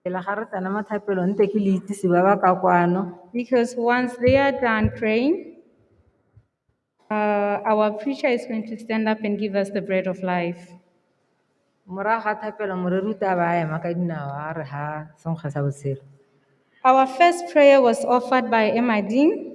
Pele ga re tsena mo thapelong nte ke le itsise ba ba ka kwano. Because once they are done praying, uh, our preacher is going to stand up and give us the bread of life. Morago ga thapelo moreri o tla ba a ema ka dinao a re ha senkgwa sa botshelo. Our first prayer was offered by Emadine.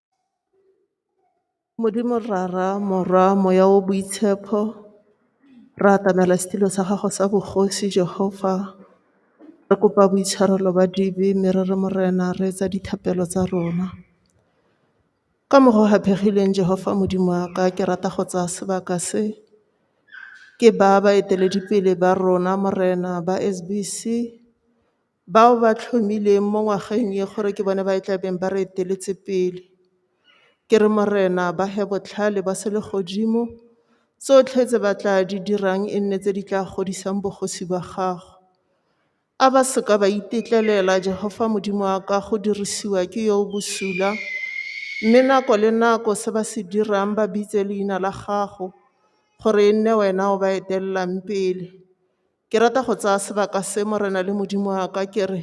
Modimo Rara, Morwa, Moya o Boitshepho, re atamela setulo sa gago sa bogosi Jehofa. Re kopa boitshwarelo ba dibe mme re re Morena re etsa dithapelo tsa rona. Ka mokgwa o gaphegileng Jehofa Modimo wa ka ke rata go tsaya sebaka se ke baya baeteledipele ba rona Morena ba S_B_C. Bao ba tlhomilweng mo ngwageng e gore ke bone ba e tla beng ba re eteletse pele, ke re Morena ba he botlhale ba selegodimo, tsotlhe tse ba tla di dirang e nne tse di tla godisang bogosi ba gago. A ba se ka ba itetlelela, Jehofa Modimo wa ka, go dirisiwa ke yo o bosula, mme nako le nako se ba se dirang ba bitse leina la gago, gore e nne wena o ba etelelang pele. Ke rata go tsaya sebaka se, Morena le Modimo wa ka, ke re,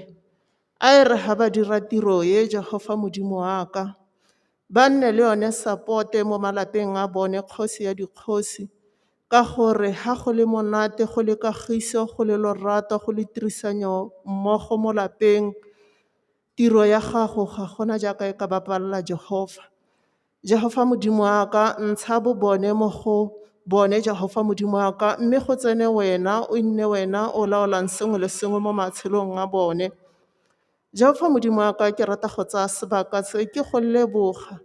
a e re ga ba dira tiro ye, Jehofa Modimo wa ka, ba nne le yone sapote mo malapeng a bone, Kgosi ya dikgosi, ka gore ga go le monate, go le kagiso, go le lorato, go le tirisanyo mmogo mo lapeng, Tiro ya gago ga gona jaaka e ka bapalela Jehofa. Jehofa Modimo wa ka, ntsha bobone mo go bone, Jehofa Modimo wa ka, mme go tsene wena, o nne wena o laolang sengwe le sengwe mo matshelong a bone. Jehofa Modimo wa ka, ke rata go tsaya sebaka se ke go leboga,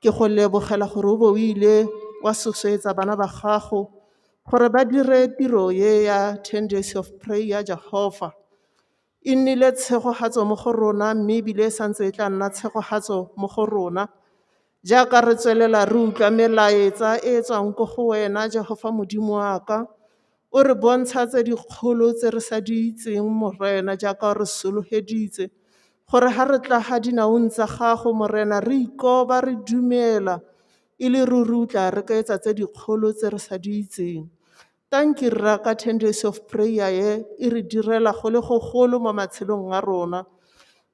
ke go lebogela gore o bo o ile wa sosoetsa bana ba gago gore ba dire tiro e ya ten days of prayer, Jehofa. E nnile tshegogatso mo go rona mme e bile e santse e tla nna tshegogatso mo go rona. Jaaka re tswelela re utlwa melaetsa e e tswang ko go wena, Jehofa Modimo wa ka, o re bontsha tse dikgolo tse re sa di itseng, Morena, jaaka o re sologeditse gore ga re tla ga dinaong tsa gago, Morena, re ikoba re dumela e le ruri o tla re kaetsa tse dikgolo tse re sa di itseng. Tanki rra ka ten days of prayer ye e re direla go le go golo mo matshelong a rona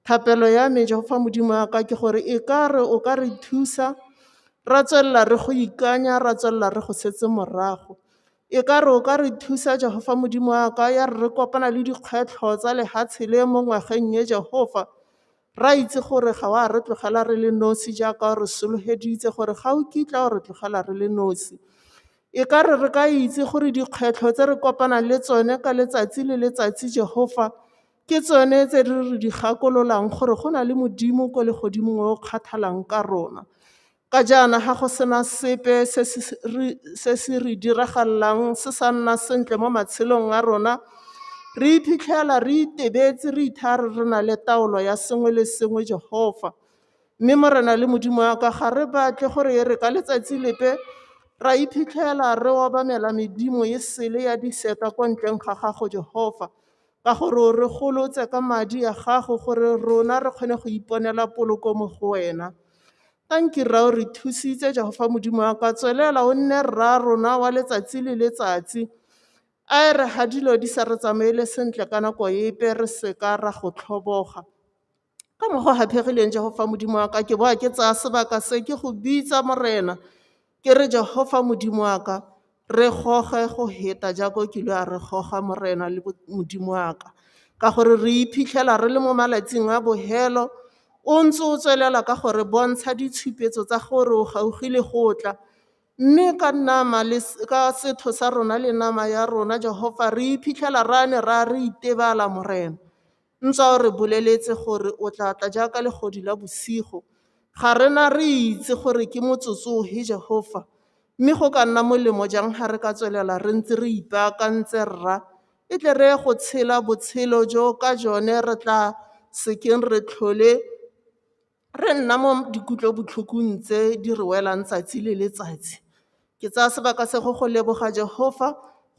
thapelo ya me jehofa modimo wa ka ke gore e ka re o ka re thusa ra tswelela re go ikanya ra tswelela re go setse morago e ka re o ka re thusa jehofa modimo wa ka ya re re kopana le dikgwetlho tsa lehatshe le mo ngwageng ye jehofa Re a itse gore ga o a re tlogela re le nosi jaaka o re sologeditse gore ga o kitla o re tlogela re le nosi. E ka re re ka itse gore dikgwetlho tse re kopanang le tsone ka letsatsi le letsatsi Jehofa ke tsone tse re re di gakololang gore go na le Modimo ko legodimong o kgathalang ka rona. Ka jaana ga go sena sepe se se re diragalelang se sa nna sentle mo matshelong a rona, re iphitlhela re itebetse re itha re re na le taolo ya sengwe le sengwe Jehofa. Mme Morena le Modimo wa ka ga re batle gore e re ka letsatsi lepe ra iphitlhela re obamela medimo e sele ya diseta ko ntleng ga gago Jehofa. ka gore o re golotse ka madi a gago gore rona re kgone go iponela poloko mo go wena tanki rra o re thusitse jehofa modimo wa ka tswelela o nne rra rona wa letsatsi le letsatsi a e re ga dilo di sa re tsamaele sentle ka nako epe re seka ra go tlhoboga Ka mokgwa gaphegileng Jehofa Modimo wa ka ke boa ke tsaya sebaka se ke go bitsa Morena ke re Jehofa Modimo wa ka re goge go heta jaaka o kile a re goga Morena le Modimo wa ka ka gore re iphitlhela re le mo malatsing a bohelo o ntse o tswelela ka gore bontsha ditshupetso tsa gore o gaugile go tla mme ka nama le ka setho sa rona le nama ya rona Jehofa re iphitlhela ra ne ra re itebala Morena Ntse o re boleletse gore o tla tla jaaka legodi la bosigo. Ga re na re itse gore ke motsotso ofe Jehofa, mme go ka nna molemo jang ga re ka tswelela re ntse re ipaakantse, Rra, e tle re ye go tshela botshelo jo ka jone re tla sekeng re tlhole re nna mo dikutlobotlhokong tse di re welang tsatsi le letsatsi, ke tsaya sebaka se go go leboga Jehofa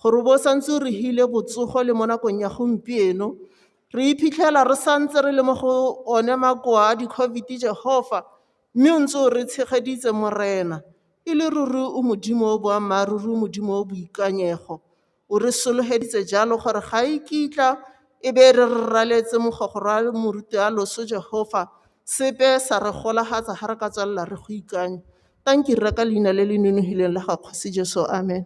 gore o bo o santse o re hile botsogo le mo nakong ya gompieno. Re iphitlhela re santse re le mo go one makoa a di-COVID Jehofa, mme o ntse o re tshegeditse Morena. E le ruri o Modimo o boammaaruri, o Modimo o boikanyego. O re sologeditse jalo gore ga e kitla e be re re raletse mogogorwa le moruti a loso Jehofa sepe sa re golagatsa ga re ka tswelela re go ikanya. Tanki rra ka leina le le nonogileng la ga Kgosi Jesu. Amen.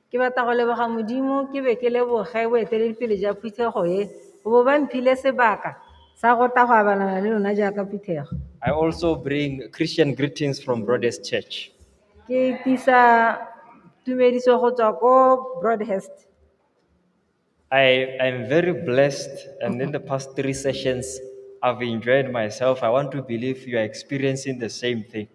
Ke batla go leboga Modimo ke be ke leboge boeteledipele jwa phuthego e go bo ba mphile sebaka sa go tla go abalana le lona jaaka phuthego. I also bring Christian greetings from Broadest Church. Ke tisa tumediso go tswa ko Broadhurst. I, I'm very blessed, and okay. in the past three sessions, I've enjoyed myself. I want to believe you are experiencing the same thing.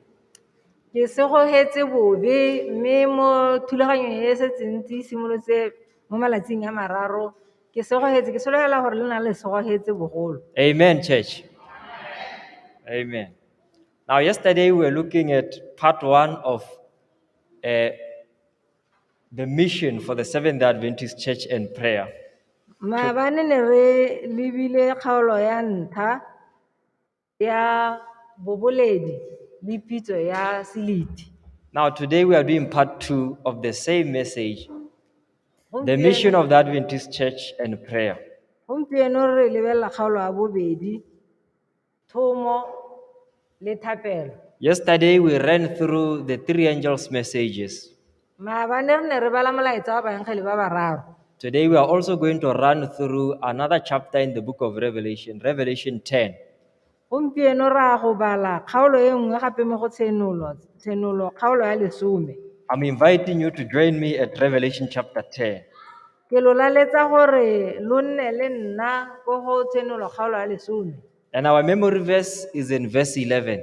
ke segogetse bobe mme mo thulaganyong e setse ntse e simolotse mo malatsing a mararo ke segogetse ke solegela gore le na le segogetse bogolo Amen, church. Amen. Now, yesterday we were looking at part one of uh, The mission for the Seventh day Adventist Church and prayer. Maabane ne re lebile kgaolo ya ntlha ya boboledi le pitso ya seliti. Now, today we are doing part two of the same message the mission of the Adventist Church and prayer. Gompieno re lebelela kgaolo ya bobedi Thomo le thapelo. Yesterday, we ran through the three angels' messages. Maabane re ne re bala molaetsa wa baengele ba bararo. Today, we are also going to run through another chapter in the book of Revelation, Revelation 10. Gompieno ra go bala kgaolo e nngwe gape mo go tshenolo, tshenolo kgaolo ya lesome. I'm inviting you to join me at Revelation chapter 10. Ke lo laletsa gore lo nne le nna ko go tshenolo kgaolo ya lesome. And our memory verse is in verse 11.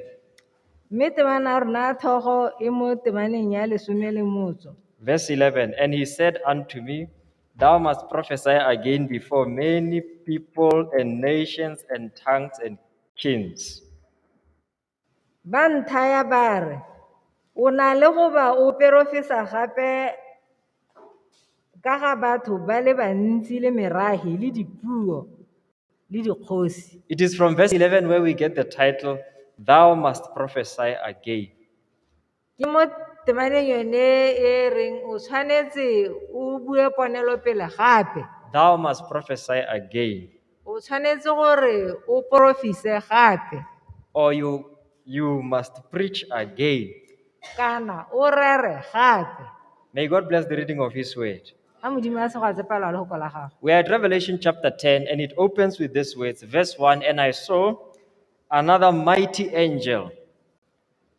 Mme temana ya rona ya thogo e mo temaneng ya lesome le motso. Verse 11 And he said unto me, Thou must prophesy again before many people and nations and tongues and kings. Ba nthaya ba re, O na le go ba o perofesa gape ka ga batho ba le bantsi le merahi le dipuo le dikgosi. It is from verse 11 where we get the title, Thou Must Prophesy Again. Ke mo temaneng yone e e reng o tshwanetse o bue ponelopele gape. Thou must prophesy again. O tshwanetse gore o porofise gape. Or you, you must preach again. Kana o rere gape. May God bless the reading of His word. A Modimo a segwa tsepelwa le go kola gago. We are at Revelation chapter 10, and it opens with these words, verse 1 And I saw another mighty angel.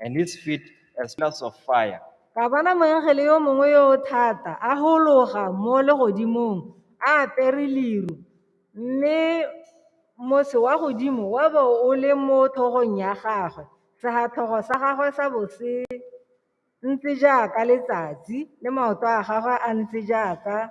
and his feet as pillars of fire. Ka bona moengele yo mongwe yo o thata a gologa mo legodimong a apere leru mme mose wa godimo wa bo o le mo tlhogong ya gagwe segatlhogo sa gagwe sa bo se ntse jaaka letsatsi le maoto a gagwe a ntse jaaka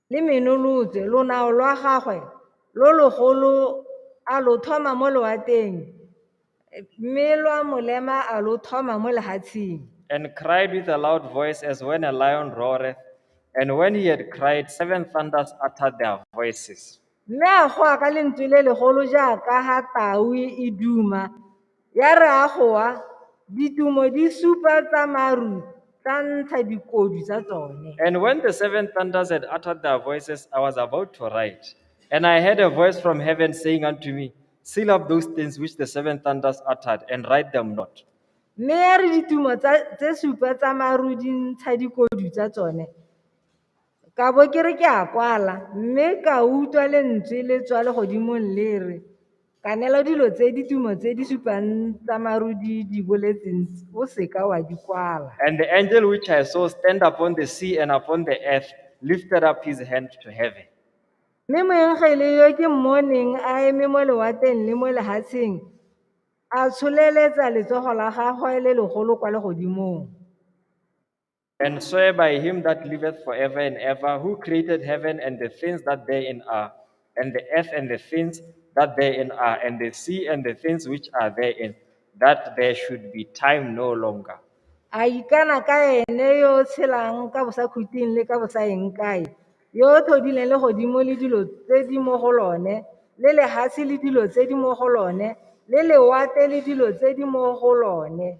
le menolotse lonao lwa gagwe lo logolo a lo thoma mo loateng mme lwa molema a lo thoma mo lehatsheng and cried with a loud voice as when a lion roareth and when he had cried seven thunders uttered their voices mme a goa ka lentswe le legolo jaaka ga tau e duma Ya re a go wa, ditumo di supa tsa maru tsa ntsha dikodu tsa tsone. And when the seven thunders had uttered their voices, I was about to write. And I heard a voice from heaven saying unto me, Seal up those things which the seven thunders uttered, and write them not. Mme ya re ditumo tsa- tse supa tsa maru di ntsha dikodu tsa tsone. Ka bo ke re ke a kwala, mme ka utlwa lentswe le tswa legodimong le re, Kanela dilo tse ditumo tse di supang tsa maru di di boletseng tse, o seka wa di kwala. And the angel which I saw stand upon the sea and upon the earth lifted up his hand to heaven. Mme moengele yo ke mmoneng a eme mo lewateng le mo lehatsheng, a tsholeletsa letsogo la gagwe le legolo kwa legodimong. And swear by him that liveth forever and ever, who created heaven and the things that therein are, and the earth and the things that therein are, and the sea and the things which are therein, that there should be time no longer. a ikana ka ene yo o tshelang ka bosakhuting le ka bosaeng kae yo o tlhodileng legodimo le dilo tse di mo go lone le lehatshe le dilo tse di mo go lone le lewate le dilo tse di mo go lone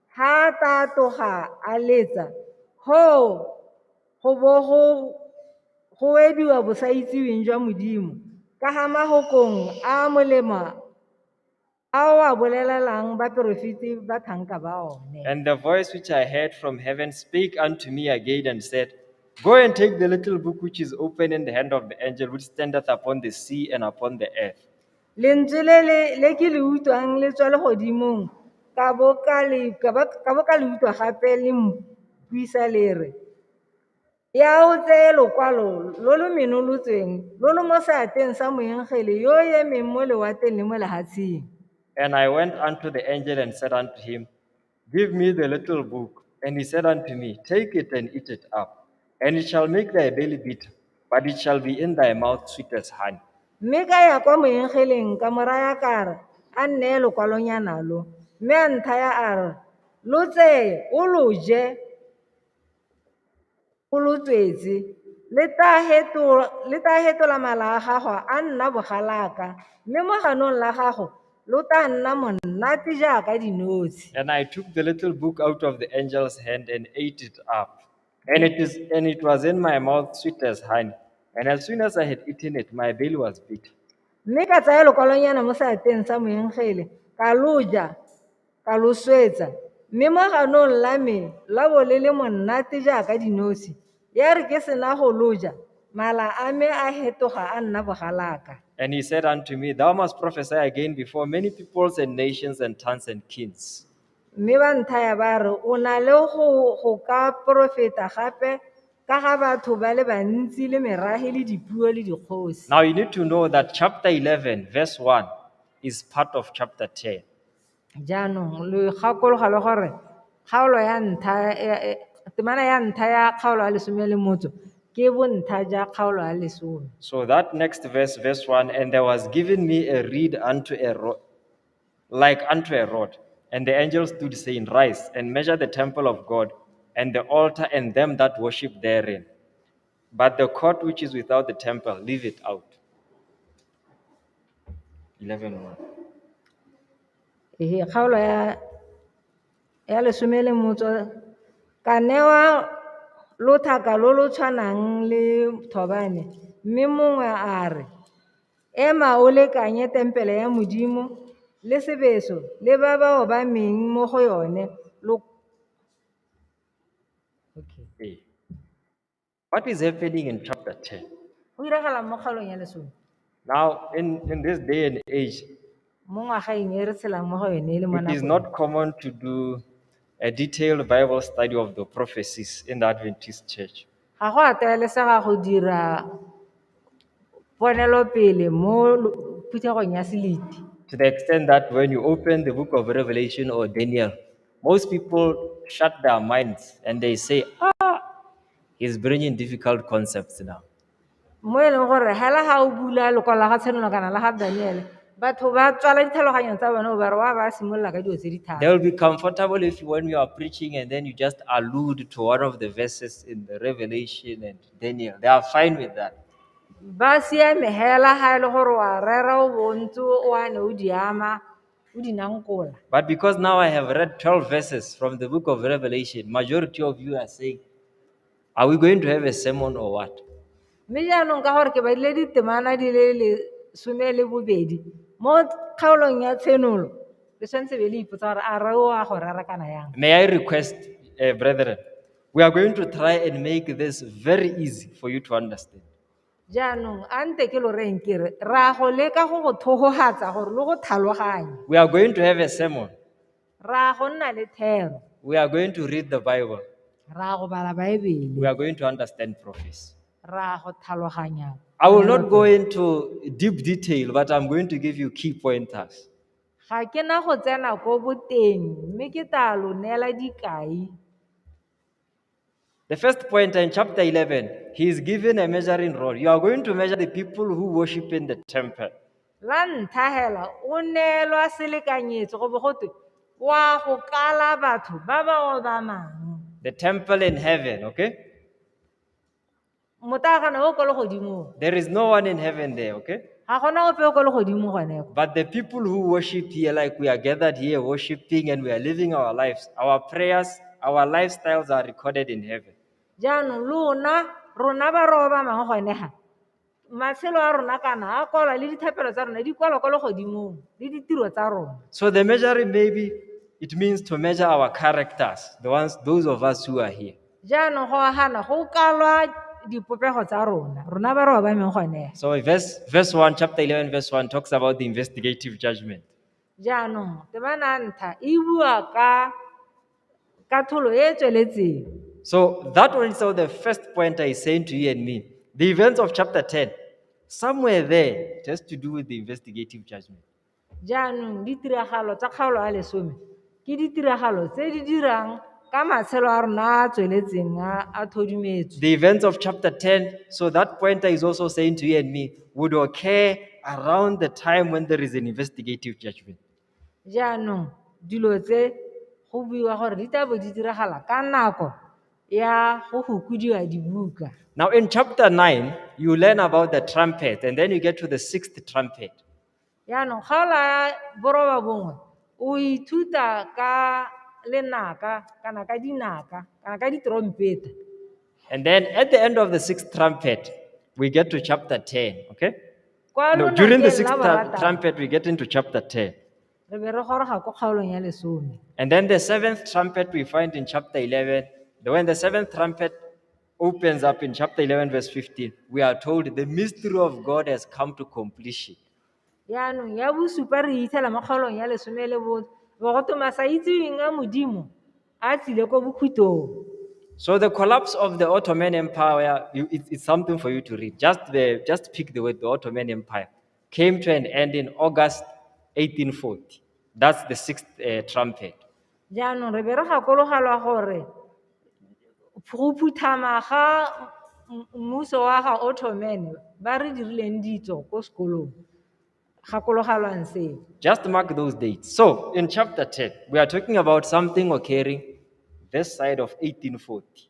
Ga a ka a tloga a letsa, hoo go bo go go ediwa bosaitseweng jwa Modimo ka ga magokong a a molemo a o a bolelelang baporofeti ba tlhanka ba one. And the voice which I heard from heaven spake unto me again and said, Go and take the little book which is open in the hand of the angel which standeth upon the sea and upon the earth. Lentswe le le le ke le utlwang le tswa le godimong ka bo ka le ka bo ka bo ka le utlwa gape le mpuisa le re ya o tseye lokwalo lo lo menolotsweng lo lo mo seatleng sa moengele yo o emeng mo lewatleng le mo lehatsheng. And I went unto the angel and said unto him, Give me the little book. And he said unto me, Take it and eat it up, and it shall make thy belly bitter, but it shall be in thy mouth sweet as honey. mme ka ya kwa moengeleng ka mo raya ka re a nneye lokwalonyana lo mme a nthaya a re lo tseye o lo je Kolotswetse, le tlaa fetola mala a gago a nna bogalaka, mme mo ganong la gago lo tlaa nna monate jaaka dinotshe. And I took the little book out of the angel's hand and ate it up. And it, is, and it was in my mouth sweet as honey. And as soon as I had eaten it, my belly was bitter. mme ka tsaya lokwalonyana mo seatleng sa moengele ka loja Ka lo swetsa, mme mo ganong la me la bo le le monnate jaaka dinosi, ya re ke sena go lo ja, mala a me a hetoga a nna bogalaka. And he said unto me, Thou must prophesy again before many peoples and nations and tongues and kings. Mme ba nthaya ba re, o na le go go ka porofeta gape ka ga batho ba le bantsi le merage le dipuo le dikgosi. Now you need to know that chapter 11, verse 1 is part of chapter 10. Jaanong lo gakologelwa le gore kgaolo ya ntlha temana ya ntlha ya kgaolo ya lesome ya lemotso ke bontlha ja kgaolo ya lesome. So that next verse, verse 1 And there was given me a reed unto a rod, like unto a rod. And the angel stood, saying, Rise and measure the temple of God, and the altar, and them that worship therein. But the court which is without the temple, leave it out. 11.1. Ee, kgaolo ya ya lesome le motso ka newa lothaka lo lo tshwanang le thobane mme mongwe a re ema o lekanye tempele ya modimo le sebeso le ba ba obameng mo go yone lo okay. Ee. What is happening in chapter 10? Go diragalang mo kgaolong ya lesome? Now, in, in this day and age, Mo ngwagaeng e re tshelang mo go yone e le mo it is nakong. not common to do a detailed Bible study of the prophecies in the Adventist church. Ga go a tlwaelesega go dira ponelopele mo lo- phuthegong ya seliti. To the extent that when you open the book of Revelation or Daniel, Most people shut their minds and they say, ah, he's bringing difficult concepts now. mo e leng gore hela ga o bula lokwalo la ga tshenolo kana la ga daniele batho ba tswala ditlhaloganyong tsa bone o bare wa ba simolola ka dilo tse di thata They will be comfortable if you, when you are preaching and then you just allude to one of the verses in the Revelation and Daniel. They are fine with that. ba siame hela ga e le gore wa rera o bontse o ane o di ama o di nankola But because now I have read 12 verses from the book of Revelation, majority of you are saying, Are we going to have a sermon or what? mme jaanong ka gore ke badile ditemana di le lesome le bobedi mo kgaolong ya tshenolo le tshwanetse be le ipotsa gore a re o a go rera kana yang May I request, uh, brethren, we are going to try and make this very easy for you to understand. Jaanong a nte ke lo reng ke re ra go leka go go thogogatsa gore lo go tlhaloganye. We are going to have a sermon. Ra go nna le thero. We are going to read the Bible. Ra go bala Baebele. We are going to understand prophecy. Ra go tlhaloganya. I will not go into deep detail, but I'm going to give you key pointers. Ga ke na go tsena ko boteng mme ke tla lo neela dikai. The first point in chapter 11, he is given a measuring rod. You are going to measure the people who worship in the temple. la ntlha hela o neelwa selekanyetso go bo go twe wa go kala batho ba ba obamang The temple in heaven, okay? motagana o ko legodimong There is no one in heaven there, okay? ga gona ope o ko legodimo gone ko But the people who worship here, like we are gathered here worshiping and we are living our lives, our prayers, our lifestyles are recorded in heaven. jaanong lona rona ba ro ba mangwe gone ga matshelo a rona kana a kwalwa le dithapelo tsa rona di kwalwa ko legodimong le ditiro tsa rona So the measuring maybe it means to measure our characters, the ones those of us who are here. Jaanong go agana go kalwa dipopego tsa rona, rona ba re obameng gone. So verse, verse 1, chapter 11, verse 1 talks about the investigative judgment. Jaanong, temana ntlha e bua ka katlholo e e tsweletseng. So that one is the first point I saying to you and me. The events of chapter 10, somewhere there, it has to do with the investigative judgment. Jaanong ditiragalo tsa kgaolo ya lesome ke ditiragalo tse di dirang ka matshelo a rona a a tsweletseng a a thodumetswe. The events of chapter 10, so that pointer is also saying to you and me, would occur around the time when there is an investigative judgment. Jaanong dilo tse go buiwa gore di tla bo di diragala ka nako ya go gokodiwa dibuka. Now, in chapter 9, you learn about the trumpet, and then you get to the sixth trumpet. Jaanong ga o laya boroba bongwe o ithuta ka lenaka kana ka dinaka kana ka ditrompeta. And then at the end of the sixth trumpet, we get to chapter 10, okay? Kwa No, during the lonakeng sixth la tru- borataro, trumpet, we get into chapter 10. re be re goroga ko kgaolong ya lesome And then the seventh trumpet we find in chapter 11. The- When the seventh trumpet opens up in chapter 11, verse 15. We are told the mystery of God has come to completion. yaanong ya bosupa re itsela mo kgaolong ya lesome le bone bogoto masa itseweng a modimo a tsile ko bokhutong So the collapse of the Ottoman Empire, you- it- it's something for you to read. Just the, just pick the word, the Ottoman Empire. came to an end in August 1840. That's the sixth uh, trumpet. jaanong re be re gakologelwa gore go phuthama ga m- mmuso wa ga ottoman ba re dirileng ditso ko sekolong gakologelwang seo Just mark those dates. So, in chapter 10, we are talking about something occurring this side of 1840.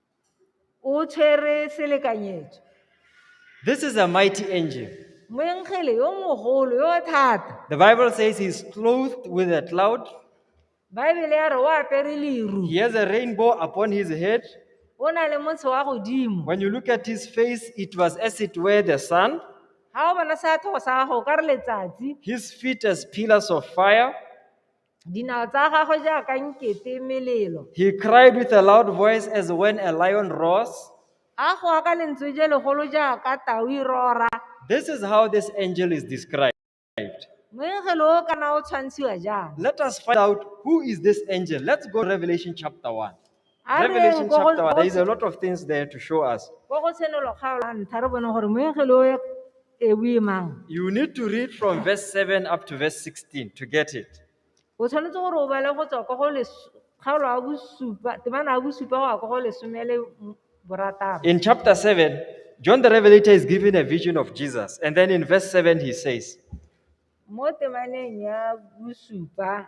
o tshwere selekanyetso This is a mighty angel. moengele yo mogolo yo thata The Bible says he's clothed with a cloud, baebele ya re o apere leru he has a rainbow upon his head. o na le motsho wa godimo When you look at his face, it was as it were the sun, ga o bona seathogo sa gago o ka re letsatsi his feet as pillars of fire. Dinao tsa gagwe jaaka nkete melelo. He cried with a loud voice as when a lion roars. A goa ka lentswe je legolo jaaka tau e rora. This is how this angel is described. Moengelo o kana o tshwantshiwa jang? Let us find out who is this angel. Let's go to Revelation chapter 1. A re Revelation ko go- chapter one, there is a lot of things there to show us. ko go tshenolo kgaolo ya ntlha re bone gore moengele o e bue mang You need to read from verse 7 up to verse 16 to get it. o tshwanetse gore o bale go tswa ko go les- kgaolo ya bosupa temana ya bosupa go ya ko go lesome le m- borataro In chapter 7, John the Revelator is given a vision of Jesus. And then in verse 7, he says, mo temaneng ya bosupa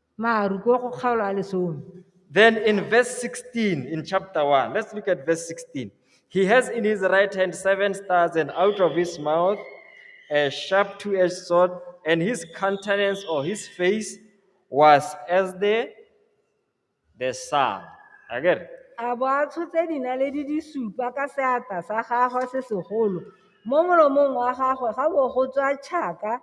Maru ko go kgaolo a lesome. Then in verse 16, in chapter 1, let's look at verse 16. He has in his right hand seven stars, and out of his mouth a sharp two edged sword, and his countenance or his face was as the, the sun. Again. a bo a tshotse dinaledi di supa ka seatla sa gagwe se segolo mo molomong wa gagwe ga bo go tswa tšhaka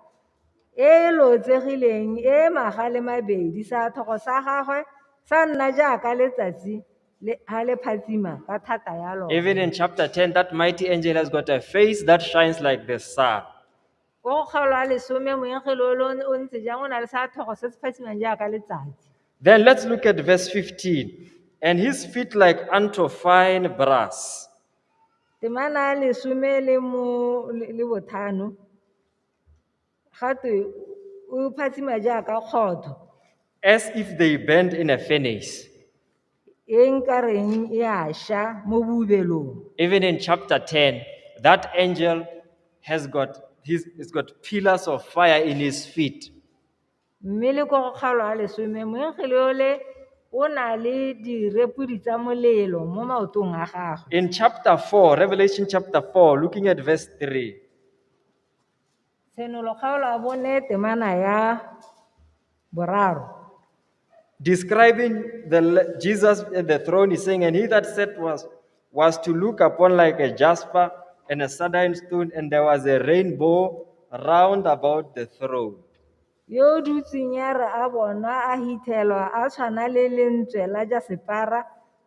e e lotsegileng e e maga le mabedi, seathogo sa gagwe sa nna jaaka letsatsi ha le phatsima ka thata ya lone. Even in chapter 10, that mighty angel has got a face that shines like the sun. Ko go kgaolo a lesome moengele o lo o ntse jang o na le seathogo se se phatsimang jaaka letsatsi. Then let's look at verse 15. And his feet like unto fine brass. Temana ya lesome le mo le le bothano. Gatwe o phatsima jaaka kgotho. As if they burned in a furnace. E nka reng e a sha mo boubelong. Even in chapter 10, that angel has got, he's, he's got pillars of fire in his feet. mme le kwa go kgaolo a lesome moengele ole o na le direpodi tsa molelo mo maotong a gagwe In chapter 4, Revelation chapter 4, looking at verse 3, tshenolo kgaolo a bone temana ya boraro describing the le- Jesus at the throne, is saying, And he that sat was was to look upon like a jasper and a sardine stone, and there was a rainbow round about the throne. yo o dutseng ya re a bonwa a hithelwa a tshwana le lentswe la jasepara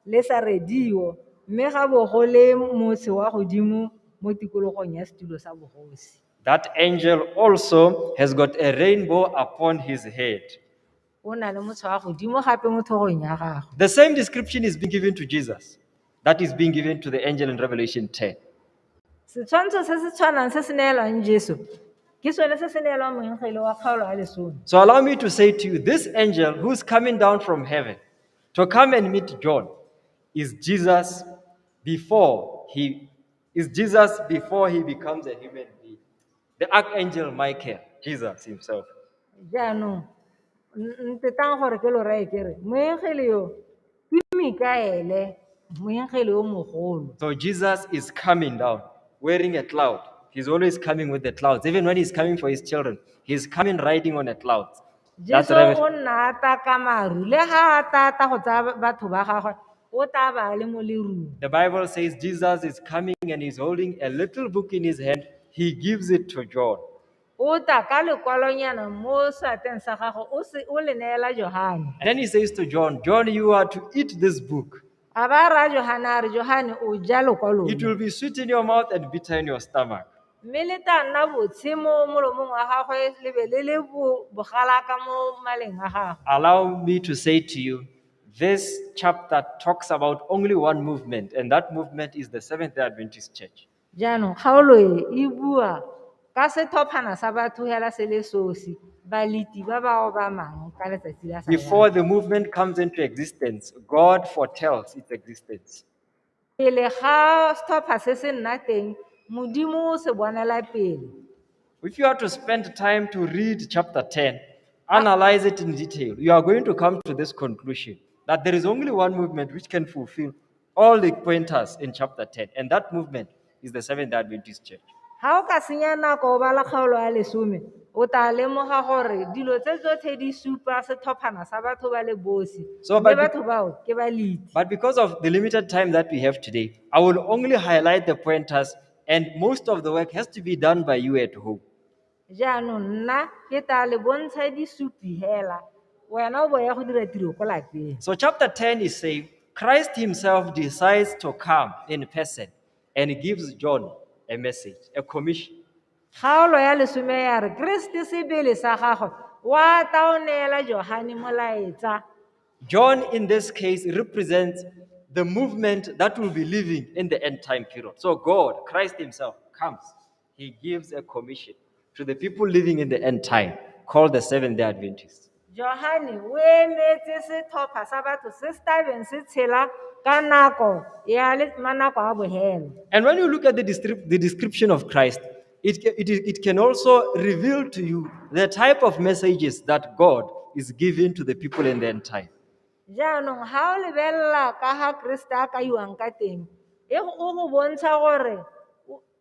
le sa redio mme ga bogole motse wa godimo mo tikologong ya setulo sa bogosi That angel also has got a rainbow upon his head. o na le motho wa godimo gape mo thogong ya gagwe The same description is being given to Jesus, that is being given to the angel in Revelation 10. setshwantsho se se tshwanang se se neelwang jesu ke sone se se neelwang moengele wa kgaolo ya lesome So allow me to say to you, this angel who's coming down from heaven to come and meet John is Jesus before he is Jesus before he becomes a human being. The archangel Michael, Jesus himself. jaanong n- ntetang gore ke lo rae kere moengele yo ke mikaele moengele yo mogolo So Jesus is coming down wearing a cloud. He's always coming with the clouds. Even when he's coming for his children, he's coming riding on a cloud. Jesu o nna ata ka maru le ga a tata go tsaya batho ba gagwe o tla ba le mo lerung The Bible says Jesus is coming and he's holding a little book in his hand. He gives it to John. o tla ka lekwalonyana mo seatleng sa gagwe o se- o le neela johane And then he says to John, John, you are to eat this book. A ba ra Johane a re, Johane, o ja lokwalo. It will be sweet in your mouth and bitter in your stomach. Mme le tla nna botshe mo molomong wa gagwe le be le le bo- bogalaka mo maleng a gagwe. Allow me to say to you, this chapter talks about only one movement, and that movement is the Seventh day Adventist Church. Jaanong kgaolo e e bua ka setlhophana sa batho hela se le sosi, baleti ba ba obamang ka letsatsi la sa Before the movement comes into existence, God foretells its existence. Pele ga setlhopha se se nna teng, Modimo o se bonela pele. If you are to spend time to read chapter 10, analyze it in detail, you are going to come to this conclusion that there is only one movement which can fulfill All the pointers in chapter 10, and that movement is the Seventh day Adventist Church. Ga o ka senya nako o bala kgaolo ya lesome, o tla lemoga gore dilo tse tsotlhe di supa sethophana sa batho ba le bosi. So, Mme but- batho bao ke baliti. But because of the limited time that we have today, I will only highlight the pointers, and most of the work has to be done by you at home. Jaanong nna ke tla le bontsha disupi hela, wena o bo ya go dira tiro ko lapeng. So chapter 10 is saying Christ himself decides to come in person and gives John a message, a commission. Kgaolo ya lesome ya re Keresete sebele sa gagwe wa tla o neela Johane molaetsa. John, in this case, represents the movement that will be living in the end time period. So God, Christ himself, comes He gives a commission to the people living in the end time called the Seventh day Adventists. johane o emetse setlhopha sa batho se se tabeng se tshela ka nako ya le- manako a bohelo And when you look at the, descrip- the description of Christ, it, ca- it, it can also reveal to you the type of messages that God is giving to the people in the end time. jaanong ga o lebelela ka ga keresete a kaiwang ka teng e go- o go bontsha gore o-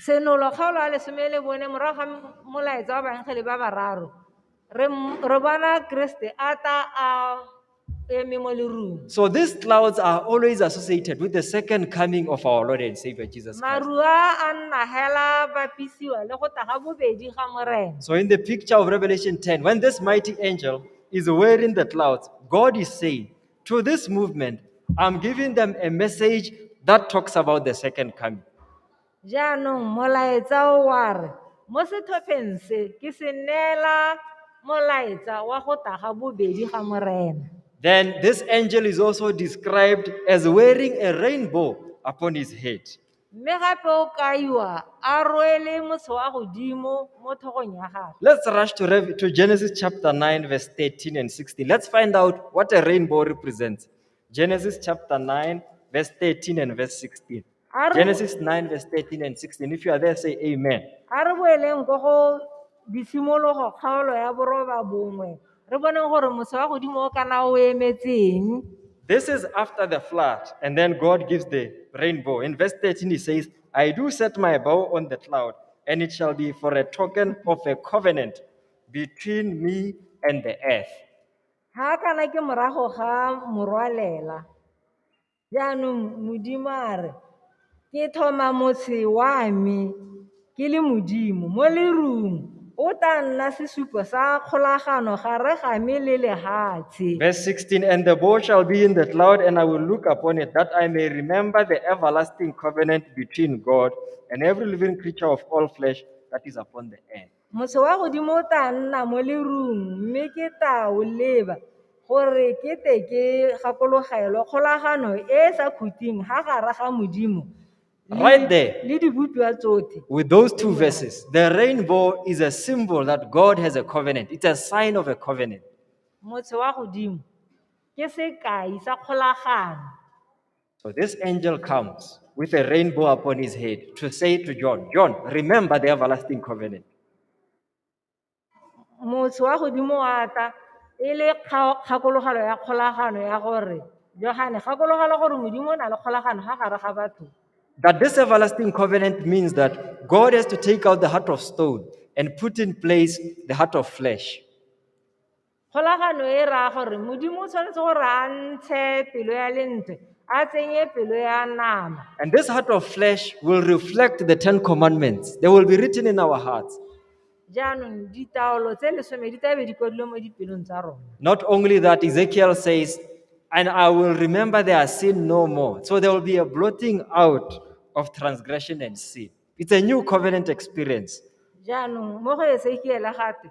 Senolo kgaolo a lesome le bone morago ga molaetsa wa baengele ba bararo re m- re bona Kriste a ta a eme mo lerung. So these clouds are always associated with the second coming of our Lord and Savior Jesus Christ. Maru a a nna hela bapisiwa le go taga bobedi ga Morena. So in the picture of Revelation 10, when this mighty angel is wearing the clouds, God is saying, to this movement, I'm giving them a message that talks about the second coming. jaanong molaetsa o wa re mo setlhopheng se ke se neela molaetsa wa go tla ga bobedi ga morena Then this angel is also described as wearing a rainbow upon his head. Mme gape o kaiwa a rwele motsho wa godimo mo thogong ya gagwe. Let's rush to, Rev- to Genesis chapter 9, verse 13 and 16. Let's find out what a rainbow represents. Genesis chapter 9, verse 13 and verse 16. A re- Genesis 9, verse 13 and 16. If you are there, say amen. a re boeleng ko go disimologo kgaolo ya boroba bongwe Re bone gore mose wa godimo o kana o emetseng. This is after the flood, and then God gives the rainbow. In verse 13, he says, I do set my bow on the cloud, and it shall be for a token of a covenant between me and the earth. Ha kana ke morago ga morwalela. Jaanong Modimo a re, Ke thoma motshe wa me ke le Modimo mo lerung. O tla nna sesupo sa kgolagano gare ga me le lehatshe. Verse 16 And the bow shall be in the cloud, and I will look upon it, that I may remember the everlasting covenant between God and every living creature of all flesh that is upon the earth. Motho wa godimo o tla nna mo lerung mme ke tla o leba gore ke te ke gakologelwe kgolagano e e sa khuting ha gara ga Modimo Right there. le dibopiwa tsotlhe. With those two verses, the rainbow is a symbol that God has a covenant. It's a sign of a covenant. Motho wa godimo ke sekai sa kgolagano. So this angel comes with a rainbow upon his head to say to John, John, remember the everlasting covenant. motho wa godimo wa tla e le kga- kgakologelo ya kgolagano ya gore johane gakologelwa gore modimo o na le kgolagano ga gare ga batho That this everlasting covenant means that God has to take out the heart of stone and put in place the heart of flesh. Kgolagano e raya gore Modimo o tshwanetse gore a ntshe pelo ya lentswe a tsenye pelo ya nama. And this heart of flesh will reflect the Ten Commandments. They will be written in our hearts. Jaanong ditaolo tse lesome di tla be di kwadilwe mo dipelong tsa rona. Not only that, Ezekiel says, And I will remember their sin no more. So there will be a blotting out of transgression and sin. It's a new covenant experience. Jaanong mo go Esekiele gate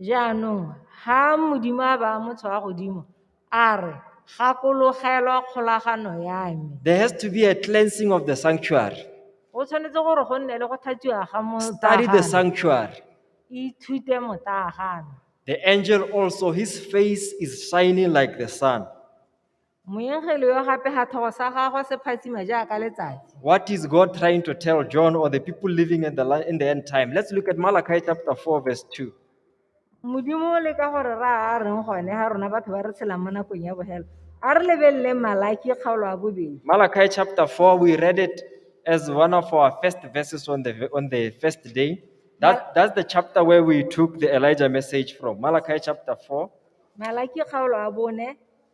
Jaanong ga Modimo a baya motho wa godimo, a re, Gakologelwa kgolagano ya me. There has to be a cleansing of the sanctuary. Go tshwanetse gore go nne le go thatsiwa ga Study the motagana. sanctuary. Ithute motagana. The angel also, his face is shining like the sun. Moengele yo gape gatlhogo sa gagwe se phatsima jaaka letsatsi. What is God trying to tell John or the people living at the, la- in the end time? Let's look at Malachi chapter 4, verse 2. Modimo o leka gore ra a reng gone ga rona batho ba re tshelang mo nakong ya bogelo. A re lebelele Malaki kgaolo ya bobedi. Malachi chapter 4, we read it as one of our first verses on the, on the first day. That, that's the chapter where we took the Elijah message from. Malachi chapter 4. Malaki kgaolo ya bone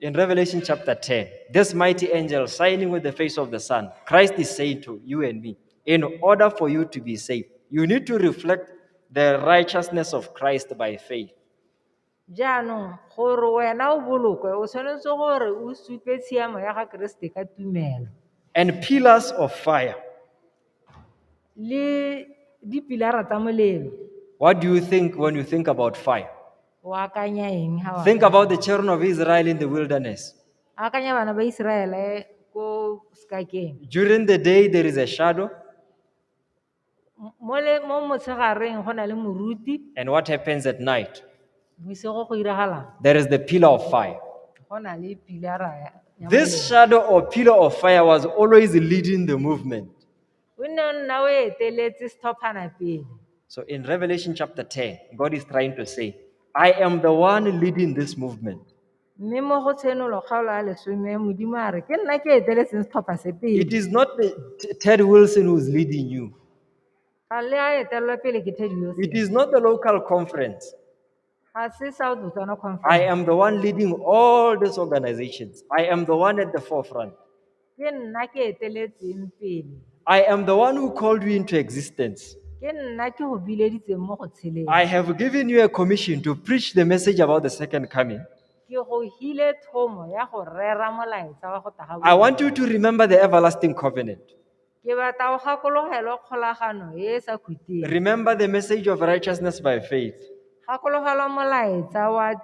In Revelation chapter 10, this mighty angel shining with the face of the sun, Christ is saying to you and me, in order for you to be saved, you need to reflect the righteousness of Christ by faith. jaanong gore wena o bolokwe o tshwanetse gore o supe tshiamo ya ga keresete ka tumelo And pillars of fire. le dipilara tsa molelo What do you think when you think about fire? o akanya eng ha wa Think about the children of Israel in the wilderness. akanya bana ba iseraele ko sekakeng During the day, there is a shadow. M- mo le- mo motshegareng go na le moruti And what happens at night? Bosigo go iragalang? There is the pillar of fire. Go na le pilara ya- ya This molelo. shadow or pillar of fire was always leading the movement. O nne o nna o eteletse setlhophana pele. So in Revelation chapter 10, God is trying to say, I am the one leading this movement. Mme mo go tshenolo kgaolo ya lesome Modimo a re ke nna ke eteletseng setlhopha se It pele. is not the T- Ted Wilson who's leading you. ga le a etelelwa pele ke Teddy Yosi. It is not the local conference. Ga se South Botswana I Conference. am the one leading all these organizations. I am the one at the forefront. Ke nna ke eteletseng pele. I am the one who called you into existence. Ke nna ke go bileditseng mo go tsheleng. I have given you a commission to preach the message about the second coming. Ke go hile thomo ya go rera molaetsa wa go taga I want you to remember the everlasting covenant. Ke batla go gakologelwa kgolagano e e sa khuteng. Remember the message of righteousness by faith. Gakologelwa molaetsa wa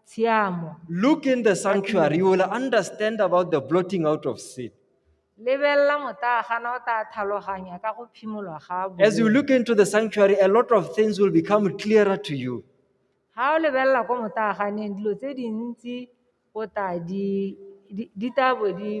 tshiamo. Look in the sanctuary, you will understand about the blotting out of sin. Lebelela motagana o tla tlhaloganya ka go phimolwa ga As you boloi. look into the sanctuary, a lot of things will become clearer to you. Ga o lebelela ko motaganeng dilo tse dintsi o tla di di- di tla bo di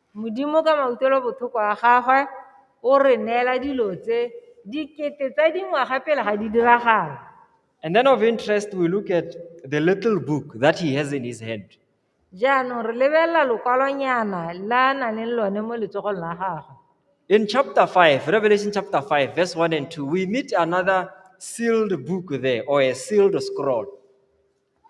Modimo ka mautlwelobotlhoko a gagwe o re neela dilo tse dikete tsa dingwaga pele ga di diragala. And then of interest, we look at the little book that he has in his hand. Jaanong re lebelela lokwalonyana la a nang le lone mo letsogong la gagwe. In chapter 5, Revelation chapter 5, verse 1 and 2, we meet another sealed book there, or a sealed scroll.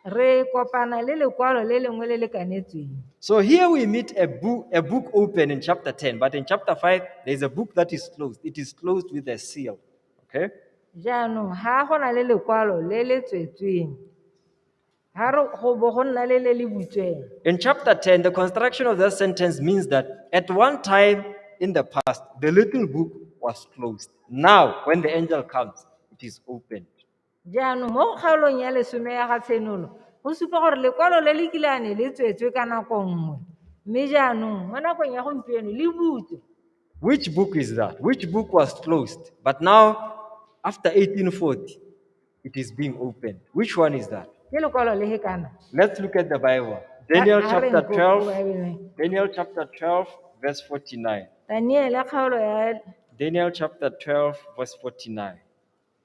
Re kopana le lekwalo le lengwe le le kanetsweng. So here we meet a book, a book open in chapter 10, but in chapter 5, there's a book that is closed. It is closed with a seal. Okay? Jaanong ha go na le lekwalo le le tswetsweng. Ha re go bo go nna le le le butsweng. In chapter 10, the construction of that sentence means that at one time in the past, the little book was closed. Now, when the angel comes, it is opened. Jaanong mo kgaolong ya lesome ya ga Tshenolo go supa gore lekwalo le le kilane le tswetswe ka nako nngwe mme jaanong mo nakong ya gompieno le butswe. Which book is that? Which book was closed? But now, after 1840, it is being opened. Which one is that? Ke lekwalo le he kana. Let's look at the Bible. Daniel Ha- ha re chapter nko- 12, Bible. Daniel chapter 12, verse 49. Daniele kgaolo ya Daniel chapter 12, verse 49.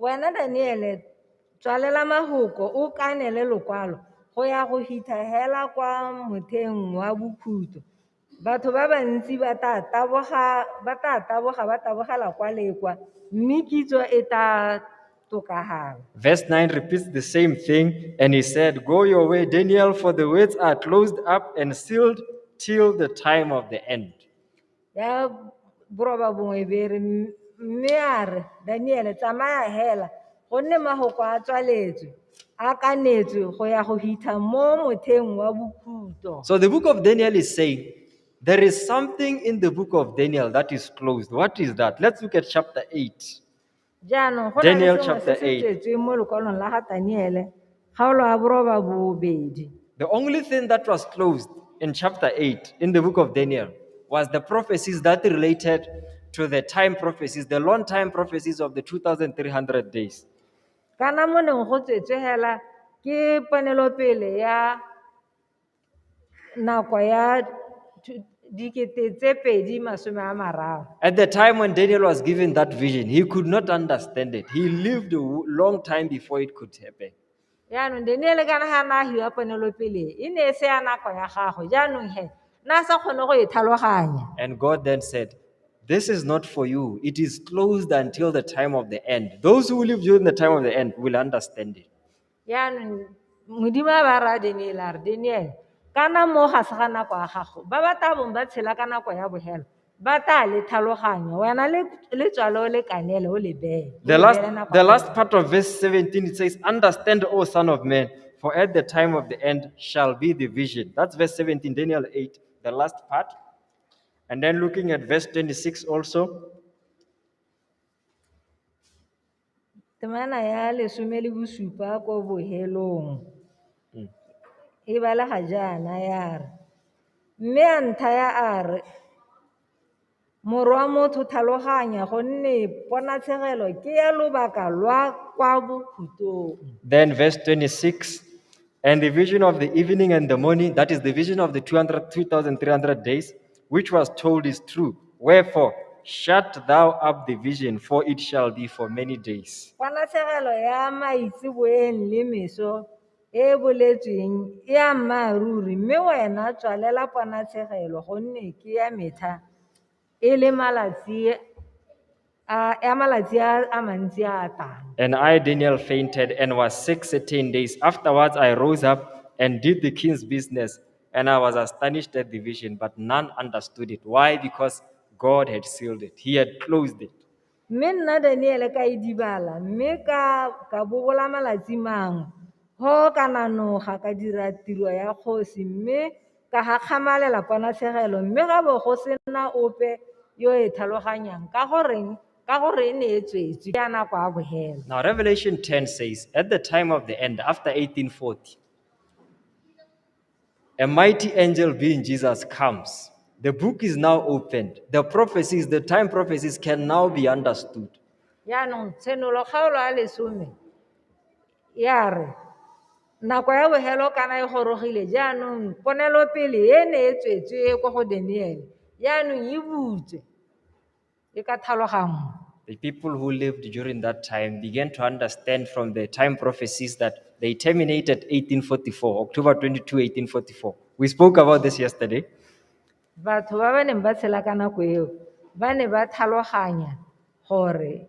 Wena Daniele, tswalela mahoko o kaanele lokwalo go ya go hitha hela kwa motheng wa bokhutlo. Batho ba bantsi ba tla taboga ba tabogela kwa le kwa, mme kitso e tla tokafala. Verse 9 repeats the same thing, and he said, Go your way, Daniel, for the words are closed up and sealed till the time of the end. ya borobabongwe e be e re mme a re daniele tsamaya hela gonne magoko a tswaletswe a kanetswe go ya go hitha mo motheng wa bokhutlo So the book of Daniel is saying there is something in the book of Daniel that is closed. What is that? Let's look at chapter 8. Jaanong go na Daniel le sengwe chapter se se 8. tswetsweng mo lokwalong la ga Daniele, kgaolo ya boroba bobedi. The only thing that was closed in chapter 8 in the book of Daniel was the prophecies that related to the time prophecies, the long time prophecies of the 2,300 days. Kana mo neng go tswetswe hela ke ponelopele ya nako ya thu- dikete tse pedi masome a mararo At the time when Daniel was given that vision, he could not understand it. He lived a w- long time before it could happen. jaanong daniele kana ga na hiwa ponelopele e ne e se ya nako ya gago jaanong he na sa kgone go e tlhaloganya And God then said, This is not for you. It is closed until the time of the end. Those who live during the time of the end will understand it. Jaanong Modimo a ba raya Daniele a re, Daniele, ka na mo ga se ga nako ya gago, ba ba tla bong ba tshela ka nako ya bogelo ba tla le tlhaloganyo wena le le tswale o le kanele o le beye o The le last, beele nako the ya last part of verse 17, it says, Understand, O son of man, for at the time of the end shall be the vision. That's verse 17, Daniel 8, the last part. And then looking at verse 26 also. Temana ya lesome le bosupa ko bohelong e balega jaana ya re, Mme a nthaya a re, Morwa motho tlhaloganya gonne ponatshegelo ke ya lobaka lwa kwa bokhutong. Then verse 26 And the vision of the evening and the morning, that is the vision of the 200 2,300 days, which was told is true. Wherefore, shut thou up the vision, for it shall be for many days. kwa latlhegelo ya maitseboeng le meso e e boletsweng e a mmaaruri mme wena tswalela ponatlhegelo gonne ke ya metlha e le malatsi Uh, and I, Daniel, fainted and was sick 13 days. Afterwards, I rose up and did the king's business, and I was astonished at the vision, but none understood it. Why? Because God had sealed it, He had closed it. mme nna daniele ka e dibala mme ka ka bobola malatsi mangwe go ka nanoga ka dira tiro ya kgosi mme Ka gakgamalela kwa nathegelo mme ga bo go sena ope yo e tlhaloganyang ka goreng ka gore e ne e tswetswe ke a nako a bogela. Now Revelation 10 says, At the time of the end, after 1840, a mighty angel being Jesus comes. The book is now opened. The prophecies, the time prophecies can now be understood. Yaanong tshenolo kgaolo a lesome Ya re, Nako ya bofelo kana e gorogile, jaanong ponelopele e ne e tswetswe kwa go Daniele, jaanong e butswe e ka thalogangwa. The people who lived during that time began to understand from the time prophecies that they terminated 1844, October 22, 1844. We spoke about this yesterday. Batho ba ba neng ba tshela ka nako eo ba ne ba tlhaloganya gore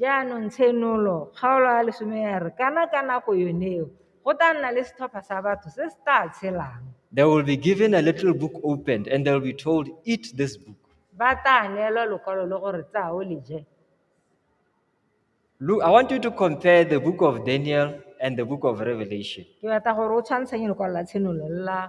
Jaanong tshenolo, kgaolo ya lesome ya re, kana ka nako yoneo go tla nna le setlhopha sa batho se se tla tshelang. They will be given a little book opened and they'll be told, Eat this book. Ba tla neelwa lokwalo le gore tsaya o le je. Look, I want you to compare the book of Daniel and the book of Revelation. Ke batla gore o tshwantshanye lokwalo la tshenolo le la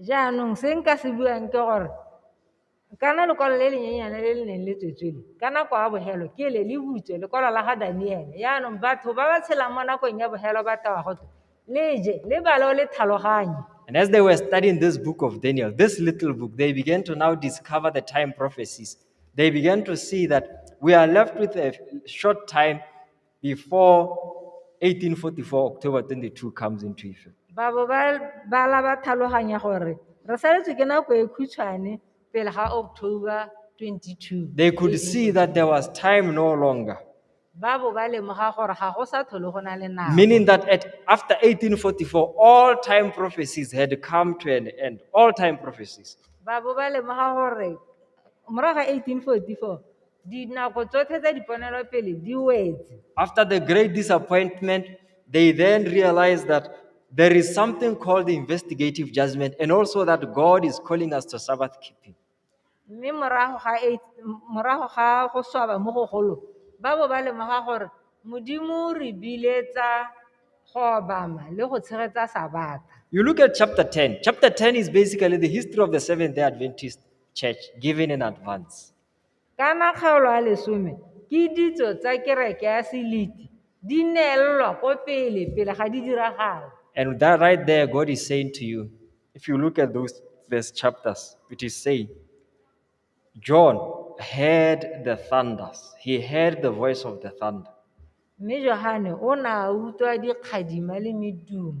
Jaanong se nka se buang ke gore kana lekwalo le le nyenyane le le neng le tswetswele ka nako ya bogelo ke le le butswe lekwalo la ga Daniele jaanong batho ba ba tshelang mo nakong ya bogelo ba tewa gote le je le bale o le tlhaloganye And as they were studying this book of Daniel, this little book, they began to now discover the time prophecies. They began to see that we are left with a short time before 1844 October 22 comes into effect. babo ba bala ba tlhaloganya gore re saletswe ke nako e khutshwane pele ga october 22 They could see that there was time no longer, babo ba lemoga gore ga go sa tlhole go na le nako meaning that at, after 1844, all time prophecies had come to an end. All time prophecies. babo ba lemoga gore morago ga 1844 Dinako tsotlhe tsa diponelopele di wetse. After the great disappointment, they then realized that there is something called investigative judgment and also that God is calling us to Sabbath keeping. Mme morago ga eight- m- morago ga go swaba mo go golo, ba bo ba lemoga gore Modimo o re biletsa go obama le go tshegetsa Sabata. You look at chapter 10. Chapter 10 is basically the history of the Seventh day Adventist church given in advance. Kana kgaolo a lesome ke ditso tsa kereke ya seliti di neelelwa ko pele pele ga di diragala. And with that right there, God is saying to you, if you look at those verse chapters, it is saying, John heard the thunders. He heard the voice of the thunder. Mme Johane o ne a utlwa dikgadima le medumo.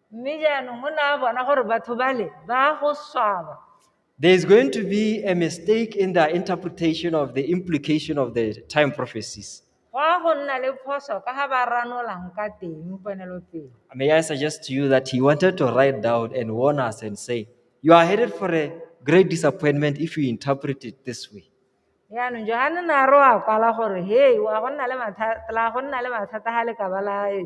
Mme jaanong o ne a bona gore batho bale ba go swaba. There is going to be a mistake in the interpretation of the implication of the time prophecies. Go a go nna le phoso ka ga ba ranolang ka teng ponelopele. May I suggest to you that he wanted to write down and warn us and say, You are headed for a great disappointment if you interpret it this way. Jaanong Johane ne a re wa kwala gore, hei, wa go nna le mathata, la go nna le mathata ga le ka ba la e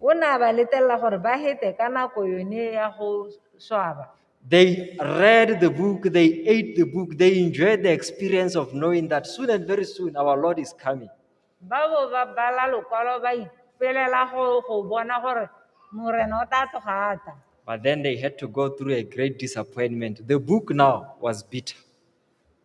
O ne a ba letella gore ba hete ka nako yone ya go swaba. They read the book, they ate the book, they enjoyed the experience of knowing that soon and very soon our Lord is coming. Ba bo ba bala lokwalo ba ipelela go go bona gore Morena o tla tloga a tla. But then they had to go through a great disappointment. The book now was bitter.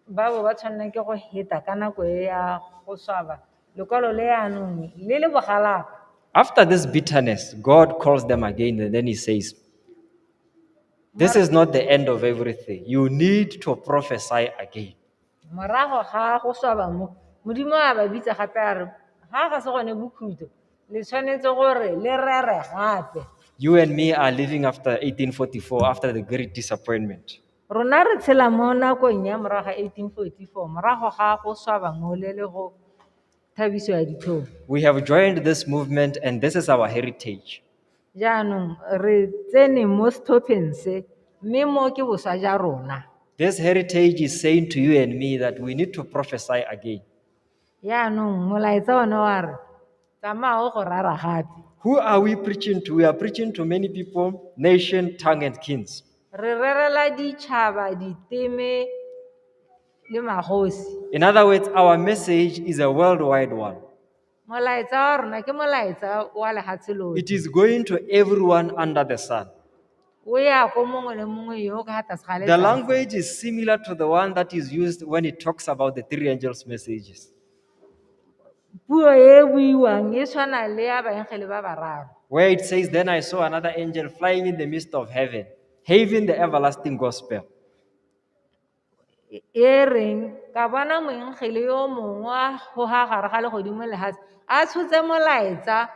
ba bo ba tshwanela ke go heta ka nako e ya go swaba lekwalo le anong le le bogalaka After this bitterness, God calls them again and then he says, This is not the end of everything. You need to prophesy again. morago ga go swaba mo modimo a ba bitsa gape a re ga ga se gone bokhutlo le tshwanetse gore le rere gape You and me are living after 1844, after the great disappointment. Rona re tshela mo nakong ya morago ga 1844, morago ga go swaba ngole le go thabiso ya ditlhong. We have joined this movement and this is our heritage. Jaanong re tsene mo setlhopheng se, mme mo ke boswa ja rona. This heritage is saying to you and me that we need to prophesy again. Yaanong, molaetsa one wa re, Tsamaya o go rara gape. Who are we preaching to? We are preaching to many people, nation, tongue, and kings. Re rerela ditšhaba, diteme, le magosi. In other words, our message is a worldwide one. Molaetsa wa rona ke molaetsa wa lehatshe lotlhe. It is going to everyone under the sun. O ya go mongwe le mongwe yo o ka fa tlase ga The letsatsi. language is similar to the one that is used when it talks about the three angels' messages. Puo e e buiwang e tshwana le ya baengele ba bararo. Where it says, Then I saw another angel flying in the midst of heaven, having the everlasting gospel. e reng ka bona moengele yo mongwe a goga gare ga legodimo le lefatshe a tshotse molaetsa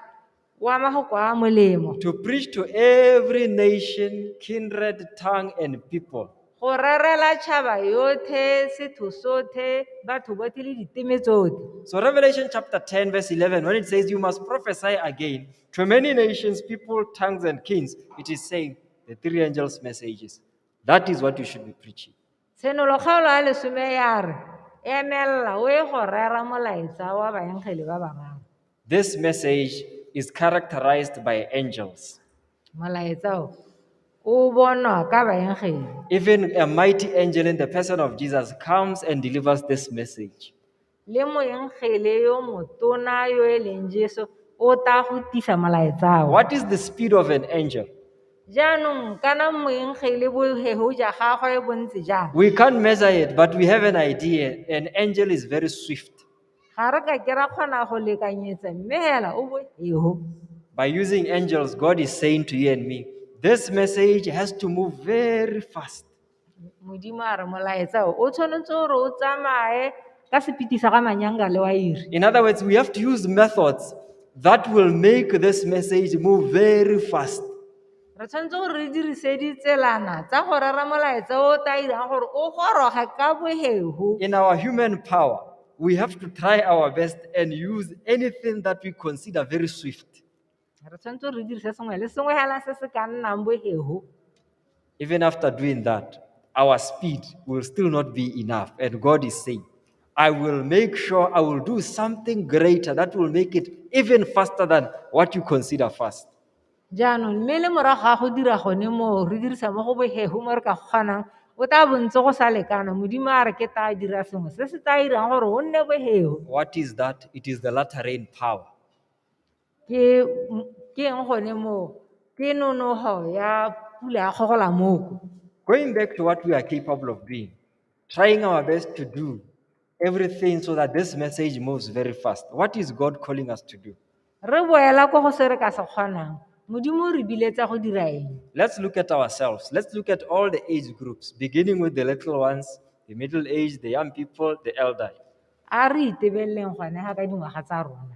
wa mafoko a molemo to preach to every nation, kindred, tongue, and people. go rerela tšhaba yothe setho sothe batho botlhe le diteme tsotlhe So, Revelation chapter 10, verse 11, when it says, You must prophesy again to many nations, people, tongues, and kings, it is saying the three angels' messages. That is what you should be preaching. Tshenolohelo ya lesome ya re, emelela o e go rera molaetsa wa baengeli ba bararo. This message is characterized by angels. Molaetsa o o bonwa ka baengeli. Even a mighty angel in the person of Jesus comes and delivers this message. le moengele yo motona yo e leng Jesu o tla go tisa molaetsa wa. What is the speed of an angel? Jaanong kana moengele bohego ja gagwe bo ntse jang? We can't measure it, but we have an idea. An angel is very swift. Ga re ka ke ra kgona go lekanyetsa mme hela o bohego. By using angels, God is saying to you and me, this message has to move very fast. Modimo a re molaetsa o o tshwanetse gore o tsamaye ka sepiti sa ga manyanga le wairi In other words, we have to use methods that will make this message move very fast. re tshwanetse gore re dirise ditselana tsa go rera molaetsa o o tla irang gore o goroge ka bohego In our human power, we have to try our best and use anything that we consider very swift. Re tshwanetse re dirise sengwe le sengwe hela se se ka nnang bohego. Even after doing that, our speed will still not be enough. And God is saying, I will make sure I will do something greater that will make it even faster than what you consider fast. jaanong mme le morago ga go dira gone moo re dirisa mo go bohego mo re ka kgonang o tla bontse go sa lekana modimo a re ke tla dira sengwe se se tla irang gore o nne bohego What is that? It is the latter rain power. Ke ke eng gone moo? Ke nonogo ya pula ya kgogola moko. Going back to what we are capable of doing, trying our best to do everything so that this message moves very fast. What is God calling us to do? Re boela ko go se re ka se kgonang. Modimo o re biletsa go dira eng? Let's look at ourselves. Let's look at all the age groups, beginning with the little ones, the middle age, the young people, the elderly. A re itebeleleng gone ga ka dingwaga tsa rona.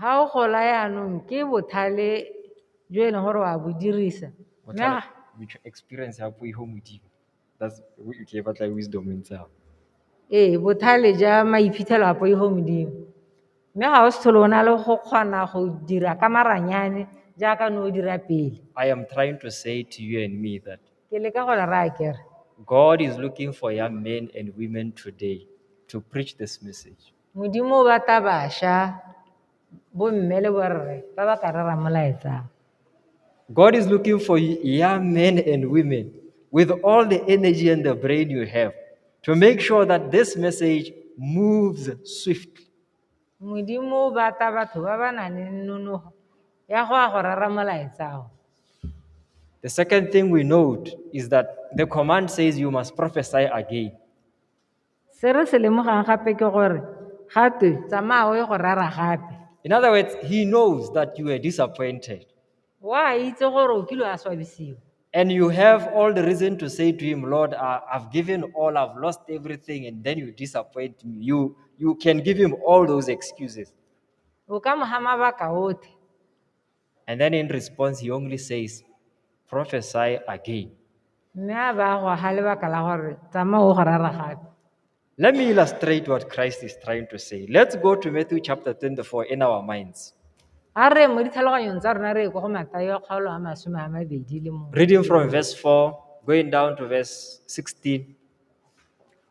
Ga o gola yaanong ke bothale jo e leng gore wa bo dirisa. Botlhale, with experience ya puo ho modimo that's o tle batla wisdom e ntse ao Ee, bothale ja maiphitlhelo a poifo modimo. Mme ga o se tlhole o na le go kgona go dira ka maranyane jaaka ne o dira pele. I am trying to say to you and me that Ke leka go le raya kere God is looking for young men and women today to preach this message. Modimo o batla basha, bo mme le borre ba ba ka rera molaetsang. God is looking for young men and women with all the energy and the brain you have to make sure that this message moves swiftly. Modimo o batla batho ba ba nang le nonogo ya go ya go rera molaetsao. The second thing we note is that the command says you must prophesy again. Se re se lemogang gape ke gore ga twe tsamaya o ye go rera gape. In other words, he knows that you were disappointed. Wa itse gore o kile a swabisiwa. And you have all the reason to say to him, Lord, I, I've given all, I've lost everything, and then you disappoint me. You, you can give him all those excuses. O ka mo ga mabaka otlhe. And then in response, he only says, prophesy again. mme a ba a go aga lebaka la gore tsamaya o go rara gape Let me illustrate what Christ is trying to say. Let's go to Matthew chapter 24 in our minds. a re mo ditlhaloganyong tsa rona re ye ko go matayo kgaolo a masome a mabedi le mongwe Reading from verse 4, going down to verse 16.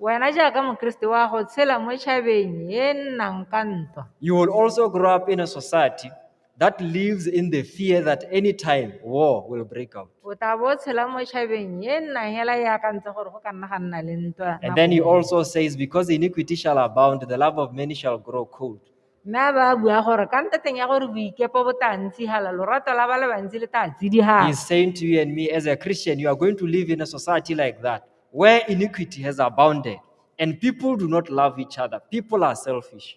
Wena jaaka Mokeresete wa go tshela mo tšhabeng e nnang ka ntwa. You will also grow up in a society that lives in the fear that any time war will break out. O tla bo o tshela mo tšhabeng e nnang hela e akantse gore go ka nna ga nna le ntwa. And then he also says, Because iniquity shall abound, the love of many shall grow cold. Mme a ba a bua gore ka ntateng ya gore boikepo bo tla ntshihala, lorato la ba le bantsi le tla tsidihana. He's saying to you and me, as a Christian, you are going to live in a society like that where iniquity has abounded and people do not love each other. People are selfish.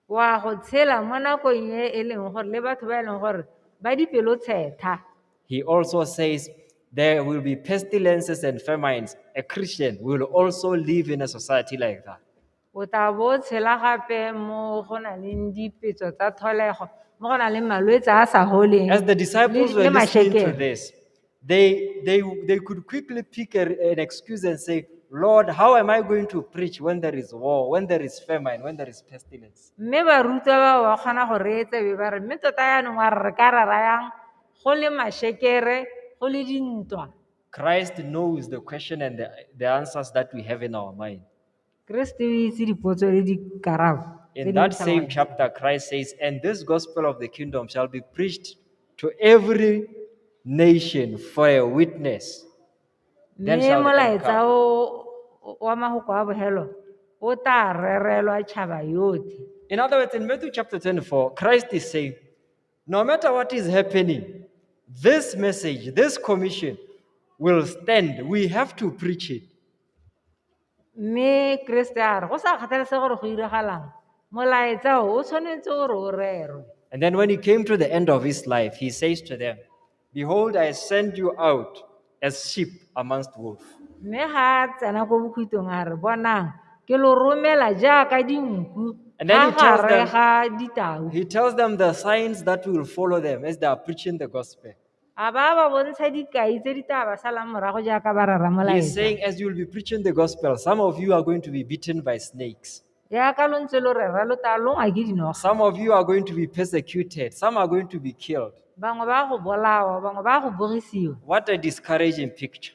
Wa go tshela mo nakong e e leng gore le batho ba e leng gore ba dipelo tshetha. He also says there will be pestilences and famines. A Christian will also live in a society like that. O tla bo o tshela gape mo go nang le dipetso tsa tlholego, mo go nang le malwetse a a sa foleng. As the disciples le- were le listening to mashekere. this, they, they, they could quickly pick a- an excuse and say, Lord, how am I going to preach when there is war, when there is famine, when there is pestilence? Mme barutwa ba ba kgona go reetsa be ba re, mme tota yaanong wa re re ka rera yang go le mashekere, go le dintwa. Christ knows the question and the, the answers that we have in our mind. Keresete o itse dipotso le dikarabo tse In di that same tlhaloganyang. chapter, Christ says, And this gospel of the kingdom shall be preached to every nation for a witness. Then mme shall the end molaetsa come. o- o- wa magoko a bogelo o tla rerelwa tšhaba yotlhe In other words, in Matthew chapter 24, Christ is saying, No matter what is happening, this message, this commission will stand. We have to preach it. Mme Keresete a re, go sa kgathalesege gore go iragalang, molaetsa o o tshwanetse gore o rerwe. And then when he came to the end of his life, he says to them, Behold, I send you out as sheep amongst wolves. Mme ga a tsena ko bokhutlong a re, bonang, ke lo romela jaaka dinku And then he fa tells gare them- ga ditau. He tells them the signs that will follow them as they are preaching the gospel. A ba ba bontsha dikai tse di tla ba salang morago jaaka ba rara He is molaetsa. saying, as you will be preaching the gospel, some of you are going to be beaten by snakes. Jaaka lo ntse lo rera lo tla longwa ke dinoga. Some of you are going to be persecuted. Some are going to be killed. Bangwe ba go bolawa, bangwe ba go bogisiwa. What a discouraging picture.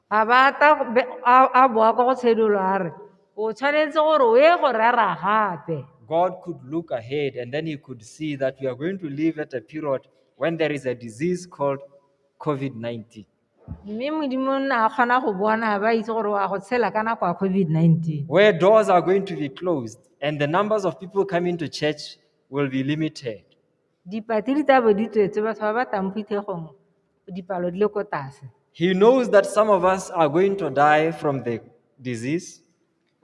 A ba a tla go be- a a boa kwa go tshedolo a re, o tshwanetse gore o ye go rera gape. God could look ahead and then he could see that we are going to live at a period when there is a disease called COVID 19. Mme Modimo o ne a kgona go bona ba itse gore wa go tshela ka nako ya COVID-19. Where doors are going to be closed and the numbers of people coming to church will be limited. Dipatsiri tsa bo di tswetse batho ba ba tlang phuthegong dipalo di le ko tlase. He knows that some of us are going to die from the disease.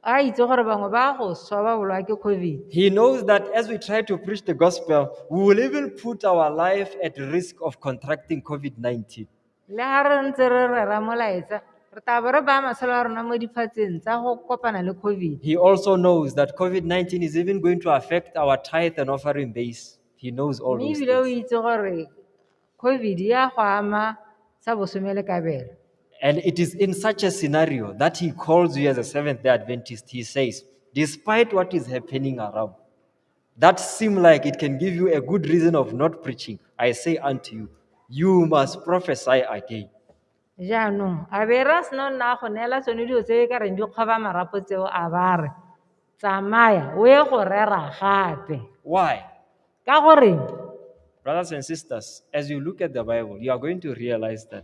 A itse gore bangwe ba go swa ba bolwa ke COVID. He knows that as we try to preach the gospel, we will even put our life at risk of contracting COVID 19. Le ha re ntse re rera molaetsa, re tla bo re baya matshelo a rona mo diphatseng tsa go kopana le COVID. He also knows that COVID 19 is even going to affect our tithe and offering base. He knows all Mme those ebile o things. itse gore COVID ya go ama sa bosome le kabelo. And it is in such a scenario that he calls you as a Seventh day Adventist. He says, Despite what is happening around, that seem like it can give you a good reason of not preaching, I say unto you, you must prophesy again. jaanong a be ra seno nna go neela tsone dilo tse e ka reng di kgoba marapo tseo a ba re tsamaya o ye go rera gape Why? ka gore Brothers and sisters, as you look at the Bible, you are going to realize that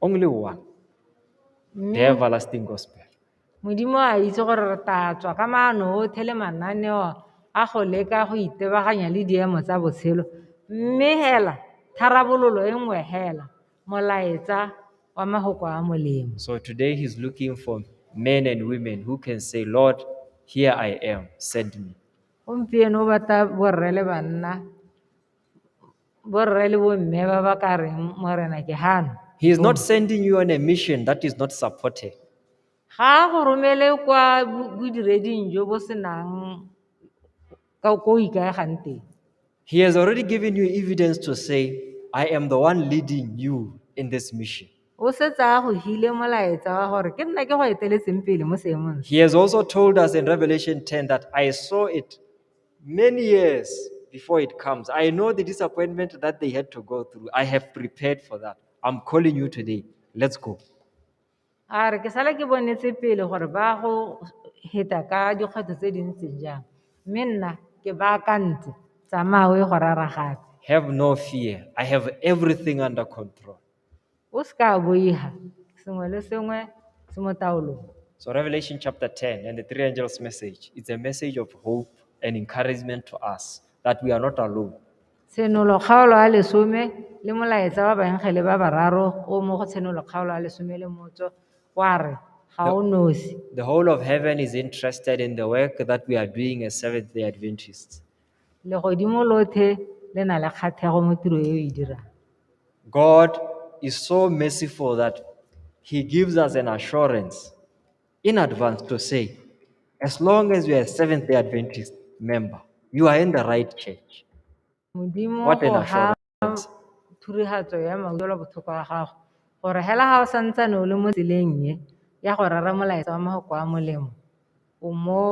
Only one. The everlasting gospel. Modimo a itse gore re tatswa ka maano otlhe le mananeo a go leka go itebaganya le diemo tsa botshelo. Mme hela, tharabololo e nngwe hela, molaetsa wa mahoko a molemo. So today he's looking for men and women who can say, Lord, here I am, send me. Gompieno o batla borre le banna borre le bomme ba ba ka reng morena ke gano He is not sending you on a mission that is not supported. ga a go romele kwa bo- bodireding jo bo senang ka ko o ikaegang teng He has already given you evidence to say, I am the one leading you in this mission. o setse a go hile molaetsa wa gore ke nna ke go eteletseng pele mo seemong se He has also told us in Revelation 10 that I saw it many years before it comes. I know the disappointment that they had to go through. I have prepared for that. I'm calling you today. Let's go. a re ke sala ke bonetse pele gore ba go heta ka dikgwetlho tse di ntseng jang mme nna ke baakantse tsamaya o ye go raragatse Have no fear. I have everything under control. O se ka boiga sengwe le sengwe se mo taolong. So Revelation chapter 10 and the three angels message, it's a message of hope and encouragement to us that we are not alone. Tshenolo kgaolo ya lesome le molaetsa wa baengele ba bararo o mo go tshenolo kgaolo ya lesome le motso wa re ga o nosi. The whole of heaven is interested in the work that we are doing as Seventh-day Adventists. Legodimo lothe le na le kgathego mo tiro e o e dirang. God is so merciful that He gives us an assurance in advance to say, as long as you are a Seventh day Adventist member, you are in the right church. Modimo What an o ha assurance. Thurihatso ya maudelo botlhoko wa gago, gore hela ga o santsane o le mo tseleng e ya go rera molaetsa wa mafoko a molemo, o mo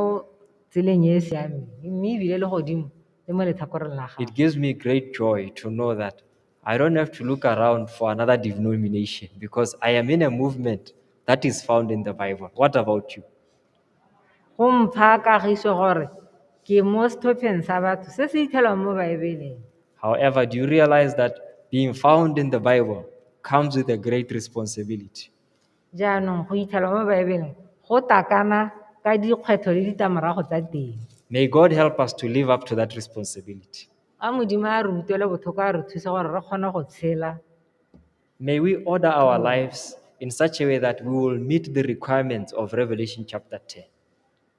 tseleng e e siameng mme ebile le godimo le mo letlhakoreng la gago. It gives me great joy to know that I don't have to look around for another denomination because I am in a movement that is found in the Bible. What about you? Go mpha kagiso gore ke mo setlhopheng sa batho se se ithelwang mo Baebeleng. However, do you realize that being found in the Bible comes with a great responsibility? Jaanong go ithelwa mo Baebeleng go takana ka dikgwetlho le ditlamorago tsa teng. May God help us to live up to that responsibility. A Modimo a re utlwele botlhoko a re thuse gore re kgone go tshela May we order our lives in such a way that we will meet the requirements of Revelation chapter 10.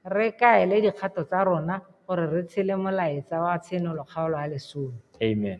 re kaele dikgato tsa rona gore re tshele molaetsa wa tshenolo kgaolo ya lesome Amen.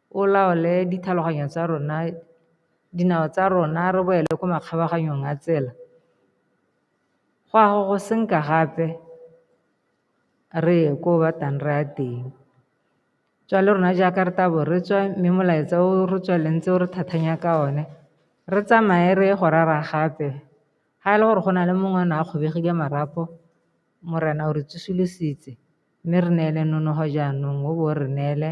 o laole ditlhaloganyo tsa rona, dinao tsa rona re boele ko makgabaganyong a tsela, go a go go senka gape re ye ko o batlang re ya teng. Tswale rona jaaka re tabo re tswa mme molaetsa o re tswaletseng ntse o re thathanya ka o ne, re tsamaye re ye go rera gape ga e le gore go na le mongwe o ne a kgobegile marapo Morena o re tsosolositse. Mme re neele nonogo jaanong, o bo o re neele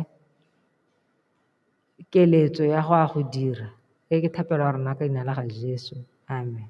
keletso ya go a go dira. E ke thapelo ya rona ka leina la ga Jesu. Amen.